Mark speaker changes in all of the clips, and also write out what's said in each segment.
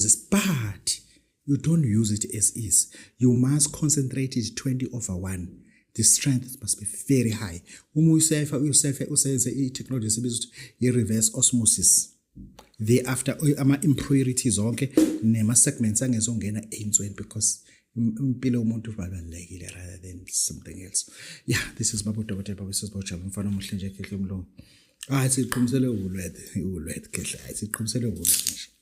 Speaker 1: zisiphathi you don't use it as is you must concentrate it 20 over 1 the strength must be very high uma uyisefa uyisefe usenze i-technology esibiza ukuthi i-reverse osmosis thereafter ama-impurities onke nema-segments angezongena ey'nsweni because impilo yomuntu babalulekile rather than something else yeah this is baba udokotela baba sesibawujaba umfana omuhle nje kehle umlungu hayi siqhumisele uwulwethe uwulwethe kehle hayi siqhumisele uwulwethe nje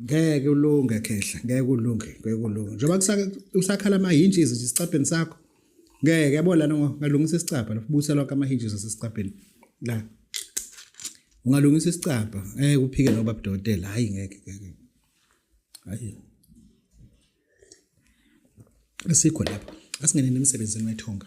Speaker 1: ngeke ulunge khehla ngeke ulunge ngeke ulunge njengoba kusakhala ama-hinges nje isicabheni sakho ngeke yabo lana ungalungisa isicabha lapho busa lonke ama-hinges asesicabheni la ungalungisa isicabha ngeke uphike noba budokotela hhayi ngeke ngeke hhayi asikho lapho asingeneni emsebenzini wethonga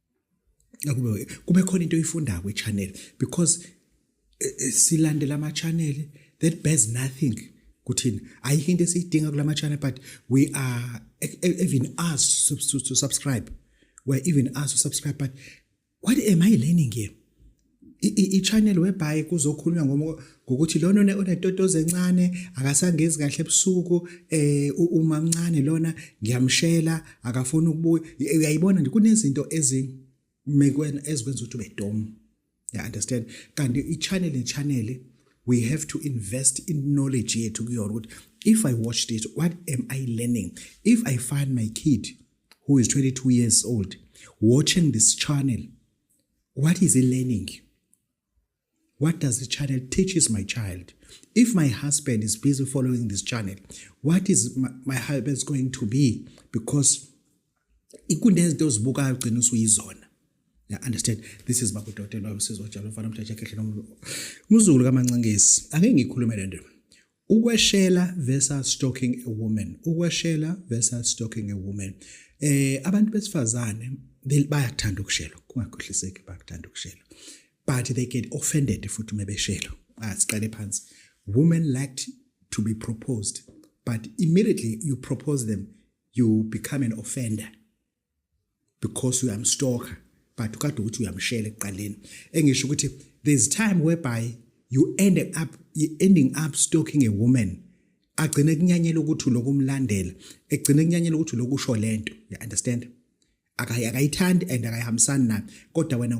Speaker 1: akube kube khona into oyifundayo kwi channel because eh, eh, silandela ama channel that bears nothing kuthina ayikho into esiyidinga kulama channel but we are e, e, even asked to, to, to subscribe we're even asked to subscribe but what am i learning here i-channel whereby kuzokhulunywa ngokuthi lona onetotozi encane akasangezi kahle ebusuku eh umamncane lona ngiyamshela akafuni ukubuya uyayibona nje kunezinto ezimekweni ezikwenza ukuthi ube dom ya understand kanti i-channel ne-channel we have to invest in knowledge yethu kuyona ukuthi if i watch this what am i learning if i find my kid who is 22 years old watching this channel What is he learning? What does the channel teaches my child? If my husband is busy following this channel, what is my, my husband's going to be? Because kunezinto ozibukayo ugcina usuyizona ya understand this is bakudokotela wabusizwa jalo mfana mthatha khehle nomzulu kamancankesi ake ngikhulume lento Ukweshela versus stalking a woman. Ukweshela versus stalking a woman. Eh abantu besifazane bayakuthanda ukushelwa kungakhohliseki bayakuthanda ukushelwa but they get offended futhi uma beshelwa asiqale phansi women liked to be proposed but immediately you propose them you become an offender because uyamstalker but kade ukuthi uyamshela ekuqaleni engisho ukuthi there's time whereby you end up you ending up stalking a woman agcine kunyanyela ukuthi lokumlandela egcine kunyanyela ukuthi lokusho lento you understand akayithandi and akayihambisani nayo kodwa wena